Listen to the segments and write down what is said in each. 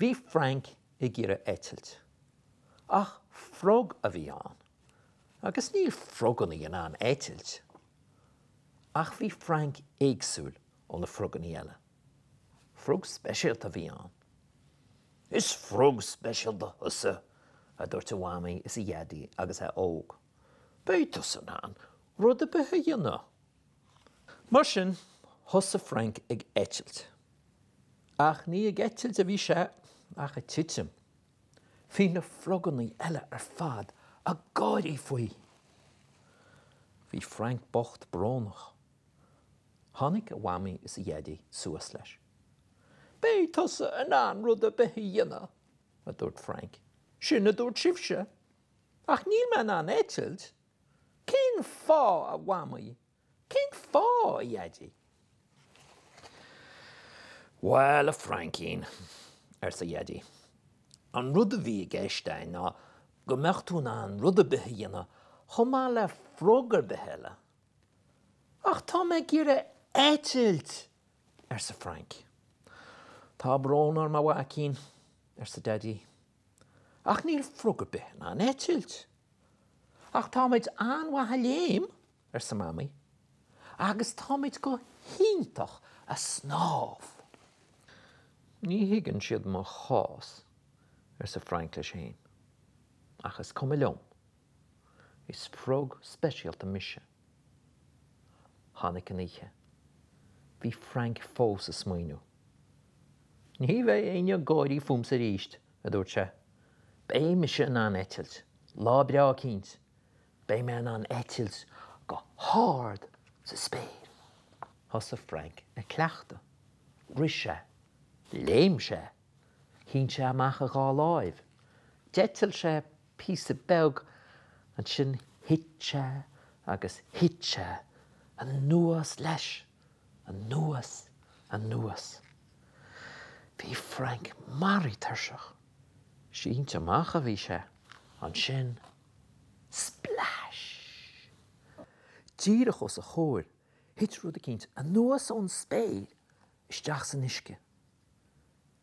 Bhí Frank ag iarraidh eitilt, ach frog a bhí ann, agus níl frogannaí in ann eitilt. Ach bhí Frank éagsúil ó na frogannaí eile. Frog speisialta a bhí ann. Is frog speisialta thusa, a dúirt a mhamaí is a dhaidí agus é óg. Beidh tusa in ann rud ar bith a dhéanamh. Mar sin, thosaigh Frank ag eitilt. Ach ní ag eitilt a bhí sé ach ag titim. Bhí na frogannaí eile ar fad ag gáirí faoi! Bhí Frank bocht brónach. Tháinig a mhamaí is a dhaidí suas leis. Beidh tusa in ann rud ar bith a dhéanamh, a dúirt Frank. Sin a dúirt sibhse. Ach níl mé in ann eitilt. Cén fáth, a Mhamaí? Cén fáth, a Dhaidí? Bhuel, a Frainkín, arsa a Dhaidí, an rud a bhí i gceist againn ná go mbeadh tú in ann rud ar bith a dhéanamh chomh maith le frog ar bith eile. Ach tá mé ag iarraidh eitilt! arsa Frank. Tá brón orm a mhaicín, arsa Daidí, ach níl frog ar bith in ann eitilt. Ach táimid an-mhaith ag léim, arsa Mamaí, agus táimid go hiontach ag snámh. Ní thuigeann siad mo chás, arsa Frank leis féin, ach is cuma liom. Is frog speisialta mise. Tháinig an oíche. Bhí Frank fós ag smaoineamh. Ní bheidh éinne ag gáirí fúmsa arís, a dúirt sé. Beidh mise in ann eitilt. Lá breá eicínt, beidh mé in ann eitilt go hard sa spéir. Thosaigh Frank ag cleachtadh. Rith sé. Léim sé. Shín sé amach a dhá láimh. D'eitil sé píosa beag. Ansin thit sé agus thit sé. Anuas leis. Anuas. Anuas. Bhí Frank maraithe tuirseach. Sínte amach a bhí sé. Ansin. Splais! Díreach os a chomhair, thit rud eicínt anuas ón spéir isteach san uisce.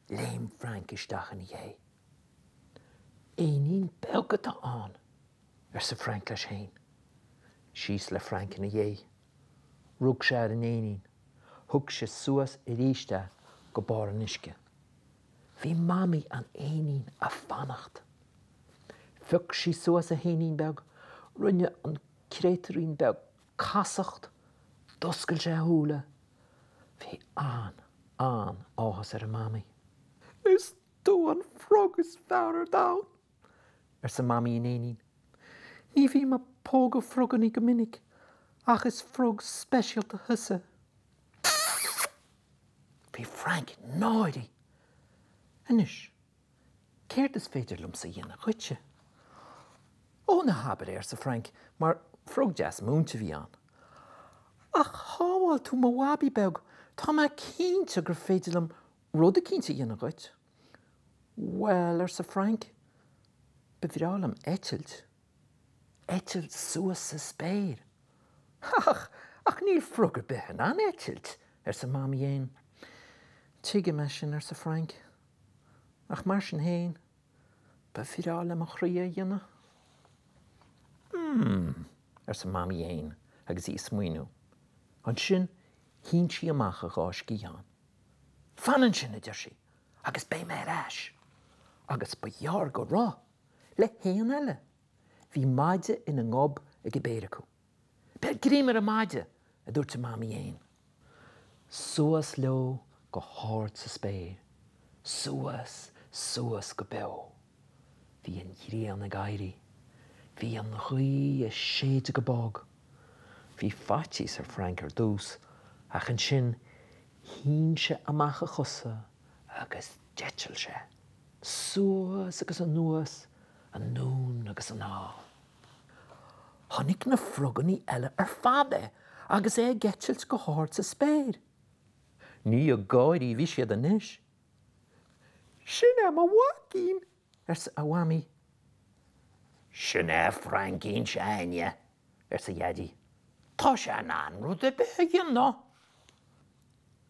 Léim Frank isteach ina dhéidh. Éinín beag atá ann! arsa Frank leis fhéin. Síos le Frank ina dhéidh. Rug sé ar an éinín. Thug sé suas aríst é go barr an uisce. Bhí mamaí an éinín a' fanacht. Phioc sí suas a héinín beag, rinne an créatúirín beag casacht, d'oscail sé a shúile. Bhí an, an, áthas ar a Mhamaí. Is tú an frog is fearr ar domhan! arsa Mamaí an éinín. Ní bhím a' pógadh frogannaí go minic ach is frog speisialta thusa. Bhí Frank náirithe. Anois, Céard is féidir liomsa a dhéanamh dhuitse? Ó, na habair é, arsa Frank, mar frog deas múinte a bhí ann. Ach shábháil tú mo bhabaí beag, tá mé cinnte gur féidir liom rud eicínt a dhéanamh dhuit. Bhuel, arsa Frank, ba bhreá liom eitilt. eitilt suas sa spéir. Ach, ach níl frog ar bith in ann eitilt! arsa Mamaí Éan. Tuigim é sin, arsa Frank. Ach mar sin féin, ba bhreá le mo chroí é a dhéanamh. Hmm, arsa Mamaí Éan agus í ag smaoineamh. Ansin shín sí amach a dhá sciathán. Fan ansin, a deir sí, agus beidh mé ar ais! Agus ba ghearr go raibh! le héan eile. Bhí maide ina ngob ag an bpéire acu. Beir greim ar an maide! a dúirt an Mamaí Éan. Suas leo go hard sa spéir. Suas, suas go beo. Bhí an ghrian ag éirí. Bhí an ghaoth ag séideadh go bog. Bhí faitíos ar Frank ar dtús, ach ansin shín sé amach a chosa agus d'eitil sé. suas agus anuas, anonn agus anall. Chonaic na frogannaí eile ar fad é agus é ag eitilt go hard sa spéir. Ní ag gáirí a bhí siad anois. Sin é mo mhaicín! arsa a Mhamaí. Sin é Frainncín seo a'inne! arsa a Dhaidí. Tá sé in ann rud ar bith a dhéanamh!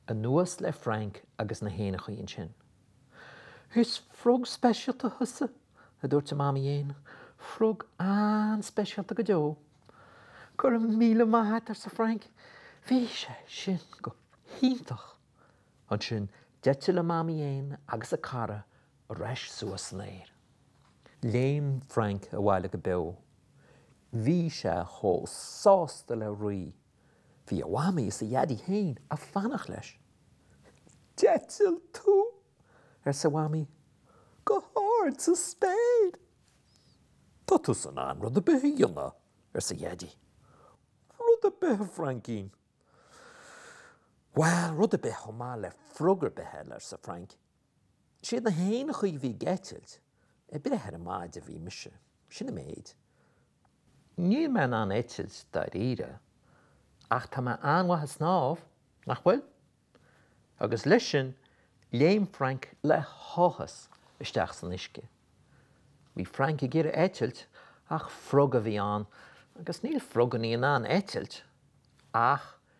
Anuas le Frank agus na héanachaí ansin. 'Is frog speisialta thusa, a dúirt an mamaí éan. 'Frog an-speisialta go deo. 'Go raibh míle maith a't, arsa Frank. 'Bhí sé sin go hiontach! Ansin d'eitil an mamaí éan agus a cara ar ais suas san aer. Léim Frank abhaile go beo. Bhí sé chomh sásta le rí! Bhí a mhamaí is a dhaidí féin a' fanacht leis. D'eitil tú! arsa a mhamaí go hard sa spéir. Tá tusa in ann rud a' bith a dhéanamh, arsa a dhaidí. Rud a' bith a Fraincín! Bhuel, rud a' bith chomh maith le frog ar bith eile, arsa Frainc. Siad na héin a chuaigh ag eitilt, ag breith ar an maide a bhí mise. Sin an méid. Níl mé in ann eitilt dáiríre, ach tá mé an-mhaith ag snámh, nach bhfuil? Agus leis sin, léim Frainc le háthas isteach san uisce. Bhí Frainc ag iarraidh eitilt ach frog a bhí ann agus níl frogannaí in ann eitilt ach